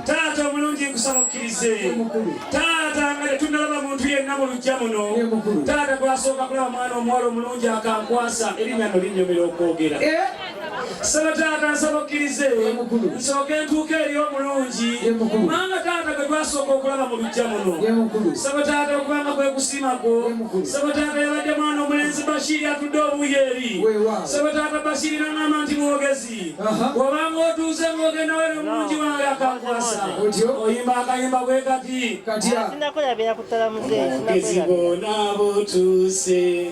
taata omulungi nkusaba okkirize taata nga tetunalaba muntu yenna mu lujja muno taata gwasooka kulaba mwana omuwala omulungi akankwasa erinnya no linnyumira okwogera eh? Saba taata nsaba okkirize nsooke entuuka eri omulungi kubanga taata gwe twasooka okulaba mu lujja muno saba taata okubanga kwe kusima kwo saba taata yabadde mwana omulenzi bashiri atudde obuuyi eri saba taata bashiri nangamba nti mwogezi obanga otuuze ng'ogenda were omulungi wange akakwasa oyimba akayimba bwe kati kati bona botuuse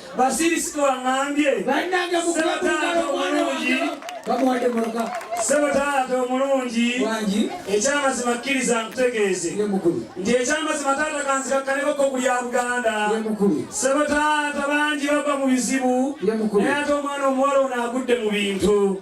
Basirisika wangambye Ssebataata omulungi Ssebataata omulungi ekyamazima kkiriza nkutegeeze nti ekyamazima taata kanzikakkanekoko ku lya Buganda Ssebataata bangi bava mu bizibu naye ate omwana omuwala ono agudde mu bintu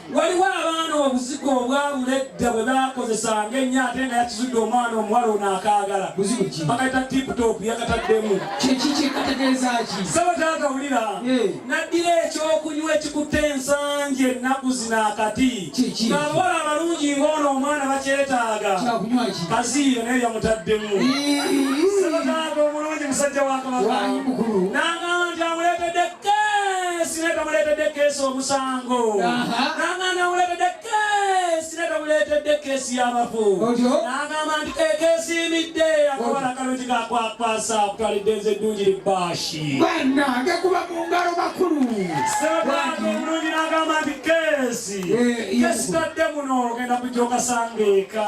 waliwo abaana obuzigo obwabula edda bwe bakozesanga ennyo ate nga yakizudde omwana omuwala ono akaagala bakayita tiptop yakataddemu saba taata wulira naddira ekyokunywa ekikutte ensangi ennaku zino akati ng'abawala abalungi ng'ono omwana bakyetaaga kaziiro naye yamutaddemu saba taata omulungi musajja wa kabaka keesi neta muleetedde keesi omusango nanga nawuleetedde keesi neta muleetedde keesi y'abafu nagamba nti kekeesiimidde akabala kalungi kakwakwasa okutwalidde nze eddungi libaashi banange kuba mu ngalo makulu sebaga omulungi nagamba nti keesi eh, keesi tadde muno ogenda kujja okasangeeka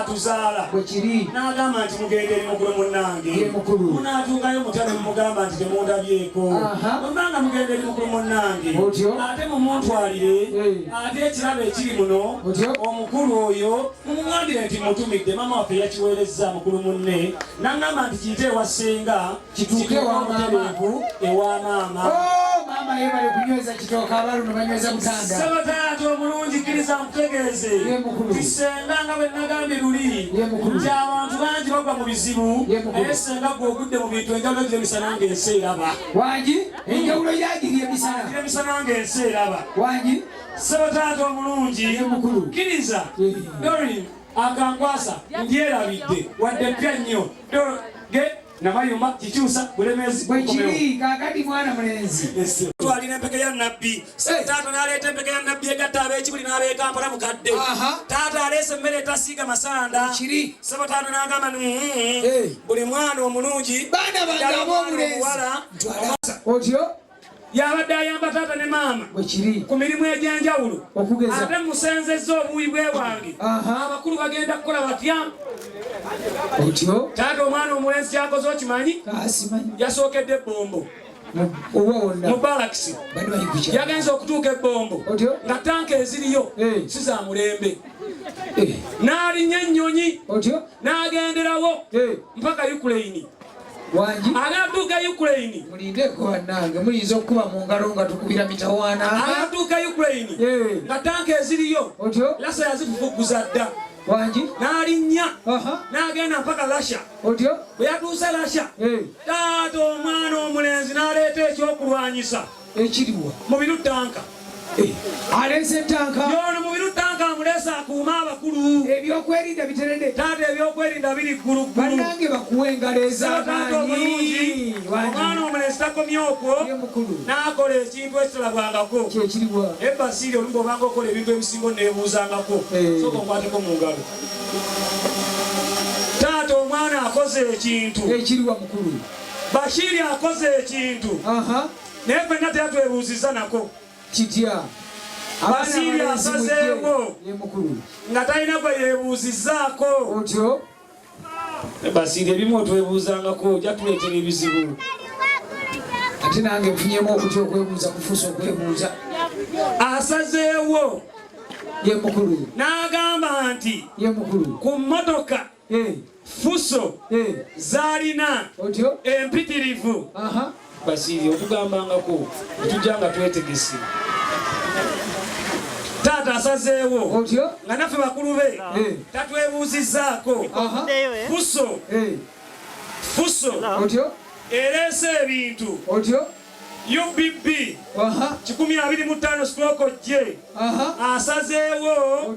atuzaala n'agamba nti mugenda eri mukulu munnange munaatuukayo mutale mumugamba nti temundabyeko olba nga mugenda eri mukulu munnange ate mumuntwalire ate ekirabo ekiri muno omukulu oyo mumugambire nti mutumidde maama waffe yakiweerezza mukulu munne n'agamba nti kiyite ewasinga kituuke ewantu ewa maama oh, maama ye bali kunyweza kitooka abaluno banyweza mutanda saba taata obulungi kkiriza nkutegeeze ti senga nga bwe nagambye luli nti abantu bangi bagwa mu bizibu naye senga gwe ogudde mu bintu enjawulo giri emisana nga ensi eraba wangi enjawulo yagiri emisana giri emisana nga ensi eraba wangi saba taata omulungi kkiriza dorin akankwasa ndyerabidde wadde pya nnyo namayuma kikyusa bulemezi bwekiri kakati mwana mulenzi twalina empeke ya nabbi taata naleeta empeke ya nabbi egatta abekibuli n'abekampala mukadde taata aleese emmere etasiiga masanda kiri sebo taata nagamba ni mm-hmm. buli mwana omulungi baana bange ab'omulenzi otyo yabadde ayamba taata ne maama ku mirimu egy'enjawulo ate musenzezza obuwi bwe wange abakulu bagenda kukola batya otyo taata omwana omulenzi kyakoze okimanyi yasookedde ebbombo mubalakisi yagenze okutuuka ebbombo nga tanka eziriyo eh. si za mulembe eh. n'alinya ennyonyi n'agenderawo eh. mpaka ukraini abantu ga ukraine mulindeko banange muyinza okukuba mu ngalo nga tukubira mitawaana abantu ga ukraine nga tanka eziriyo lasa yazikukuguza dda wangi n'alinnya n'agenda mpaka lasha otyo bwe yatuuse lasha taata omwana omulenzi n'aleeta ekyokulwanyisa ekiriwa mubiru tanka eh, aleese tanka yono mubiru tanka amuleese akuuma abakulu ebyokwerinda biterede taata ebyokwerinda biri gguluggulu banange bakuwa engalo ezamaanyi omwana omulesi takomye okwo n'akola ekintu ekitalabwangako kyekiriwa ebasiiri olumu obanga okola ebintu ebisingo nebuuzangako eh. soka okwateko mu ngalo taata omwana akoze ekintu ekiriwa mukulu Bashiri akoze ekintu naye fenna teatwebuuzizza nako kitya Bashiri asazeewo nga talina gwe yebuuzizzaako otyo Bashiri ebimu otwebuuzangako ojja tuleetera ebizibu ate nange nfunyemu okutya okwebuuza kufuusa okwebuuza asazeewo ye mukulu n'agamba nti ye mukulu ku mmotoka fuso zalina empitirivu basiri otugambangako tujja nga twetegese taata asazeewo nga naffe bakulu be tatwebuuzizaako fuso fuso ereese ebintu UBB kikumi abiri mu ttaano sitooko gye asazeewo